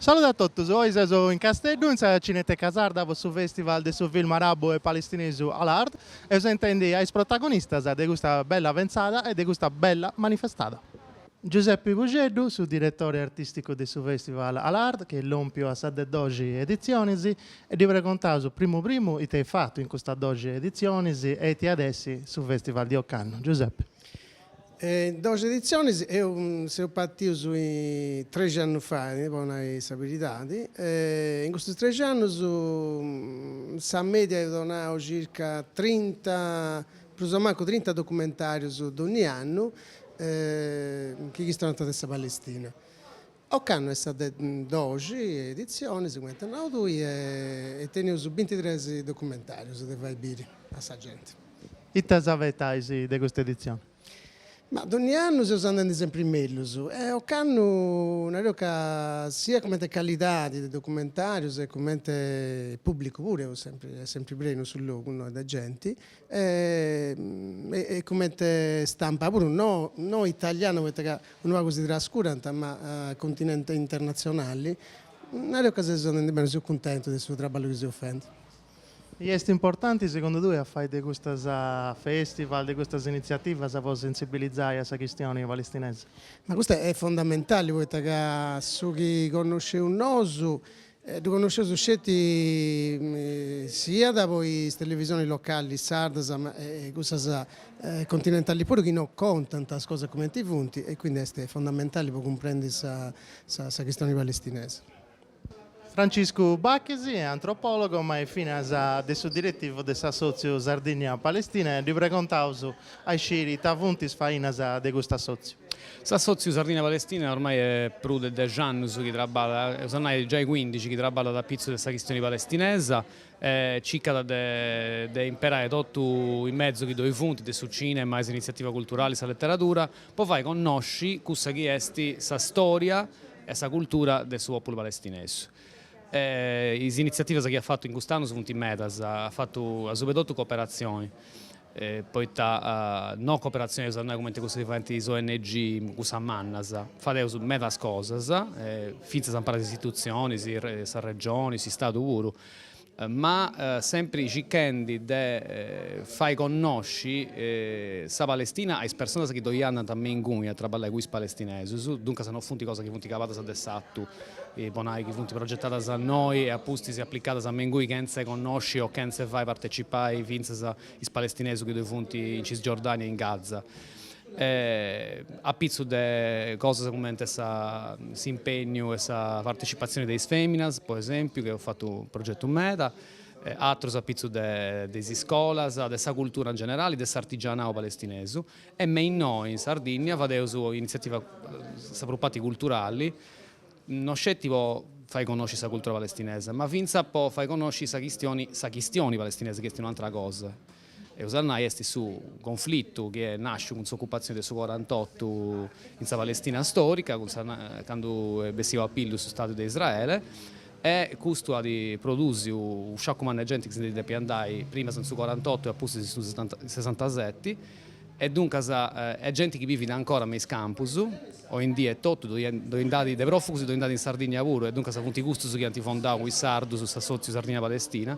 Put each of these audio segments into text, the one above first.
Salude a totus, oi seus in Casteddu in sa Cineteca Sarda po su Festival de su Film Arabu e Palestinesu Al Ard e eus a intendi a is protagonistas de custa bella pentzada e de custa bella manifestada. Giuseppe Pusceddu, su diretori artisticu de su Festival Al Ard chi est lompiu a sa de doxi editzionis e ddi pregontaus primu primu ite eis fatu in custas doxi editzionis e ite at a essi su Festival de ocannu. Giuseppe. E in doxi editzionis, e seus partius trexi annus faidi, po nai sa beridadi, e in custus trexi annus sa media eus donau circa trinta, prus o mancu trinta documentarius dogni annu, chi chistionant de sa Palestina. Ocannu est sa de doxi editzionis, cumenti as nau tui, e teneus bintitres documentarius de fai biri a sa genti. Ite s'abetais de custa editzioni? Ma dogni annu seus andendi sempri mellus e ocannu nareus ca sia cumenti calidadi de documentarius e cumenti pubblicu puru est sempri prenu su logu innoi de genti, e comente stampa puru no no italiana poita ca unu pagu si trascurant ma continente internatzionali, nareus ca seus andendi beni, seu cuntentu de su traballu chi seus fendi. E est importanti segundu tue a fai de custas festivals, de custas initziativas po sentzibilizai a sa chistioni palestinesa? Ma custa est fondamentali poita ca su chi connosceus nosu Ddu connosceus sceti siat po is televisionis locali sardas ma e cussas continentali puru chi no contant is cosas cumenti funt e quindi est fondamentali po cumprendi sa sa chistioni palestinesa. Franciscu Bachis est antropòlogu ma est finas de su diretivu de s'assòtziu Sardìnnia-Palestina e ddi pregontaus A isciri ita funt is fainas de cust'assòtziu? S'assòtziu Sardìnnia Palestina ormai est prus de dexi annus chi traballat, eus a nai giai cuindixi, chi traballat apitzus de sa chistioni palestinesa e circat de imperai totu is mezus chi ddoi funt, de su cinema a is initziativas culturalis, sa leteradura, po fai connosci cussa chi est sa stòria e sa cultura de su pòpulu palestinesu. E is initziativas chi at fatu in cust'annus funt medas, at fatu asuba 'e totu cooperatzioni, poita no cooperatzioni eus a nai cumenti cussu chi faint is ong, cussas mannas, fadeus medas cosas, fintzas impari a is istitutzionis, sa regioni, s'istadu puru ma sempri circhendi de fai connosci sa Palestina a is personas chi ddoi andant me inguni a traballai cun is palestinesus, duncas no funt cosas chi funt cabadas de s'atu, po nai chi funt progetadas a innoi e apustis aplicadas me inguni chentza 'e connosci o chentza 'e fai partecipai fintzas is palestinesus chi ddoi funt in Cisgiordania e in Gaza. e a pitzu de cosas cumenti s'impegnu e sa partecipatzioni de is fèminas, po esèmpiu, chi eus fatu progetus meda, atrus a pitzu de is iscolas, de sa cultura in generali, de s'artigianau palestinesu e invèces innoi in Sardìnnia fadeus initziativas, sa prus parti culturali, no sceti po fai connosci sa cultura palestinesa, ma fintzas po fai connosci sa chistioni, sa chistioni palestinesa, chi est un'atra cosa e iat a essi a nai est su conflitu chi est nàsciu cun s'ocupatzioni de su corant'otu in sa Palestina stòrica, cun sa candu est bessiu a pillu su Stadu de Israele e custu at produsiu unu sciacu mannu 'e genti chi si ndi depiat andai primas in su corant'otu e a pustis in su sesantaseti e duncas est genti chi bivit ancora me is campus oindì etotu ddoi nd'at de pròfugus ddoi nd'at in Sardigna puru e duncas funt custus chi ant fondau cun is sardus s'assòtziu Sardigna-Palestina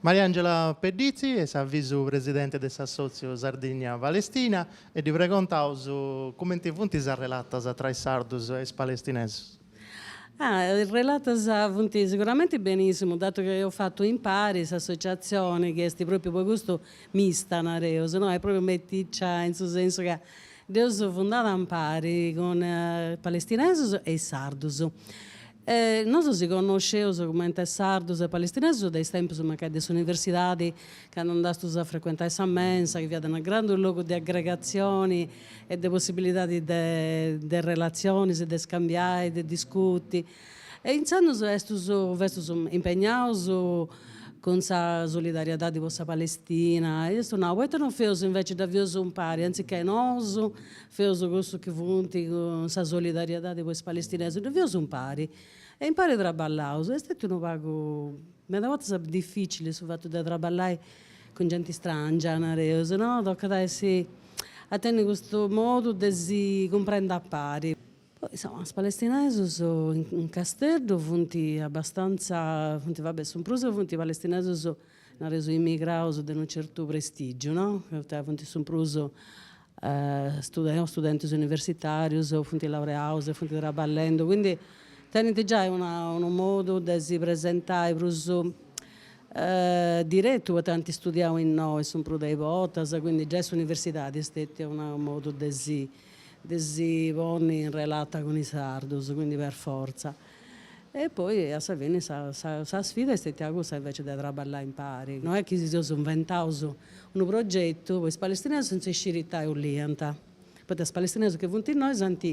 Mariangela Pedditzi est sa visu-presidente de s'assòtziu Sardigna Palestina e ddi pregontaus cumenti funt is arrelatas tra is sardus e is palestinesus. Ah, is arrelatas funt siguramenti benìssimu, datu chi eus fatu impari s'associatzioni chi est pròpriu po custu mista, nareus, no, est pròpriu meticcia in su sensu ca dd'eus fundada impari cun is palestinesus e is sardus. E nosu si connosceus cumenti sardus e palestinesus de is tempus mancai de s'universidadi, candu andastus a frecuentai sa mensa, chi fiat unu grandu logu de aggregatzioni e de possibilidadi de de relatzionis, de scambiai, de discuti. E intzandus estus festus impegnaus cun sa solidariedadi po sa Palestina e eus nau, poita non feus inveci dda feus impari, anziché nosu, Feus cussus chi funt cun sa solidariedadi po is palestinesus, dda feus impari e impari traballaus. Est stetiu unu pagu, meda bortas, dificili su fatu de traballai cun genti strangia, nareus, no? Tocat a essi a tenni custu modu de si cumprendi a pari. Poi, insoma, is palestinesus in Casteddu funt abastanza, funt, va bè, su prus funt palestinesus, nareus, immigraus de unu certu prestigiu, no? Poita funt su prus Stètius studentis universitàrius, funt laureaus e funt traballendu, quindi tenint giai una unu modu de si presentai prus diretu poita ant studiau innoi su prus de is bortas, quindi giai s'universidadi est stetia una unu modu de si de si ponni in relata cun is sardus, quindi per fortza E poi a sa fini sa sa sfida est stétia cussa invece de traballai impari. No est chi si seus inventaus unu progetu, po is palestineus chene sciri ita boliant, poita is palestineus chi funt innoi s'ant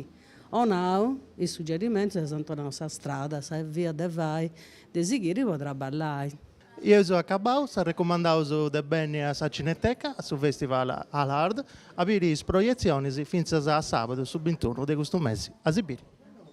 'onau is suggerimentus e s'ant 'onau sa strada, sa via de fai, de sighiri po traballai. Eus acabau, s'arrecomandaus de benni a sa Cineteca, a su Festival Al Ard, a biri is proietzionis fintzas a sabadu su bintunu de custu mesi a si biri.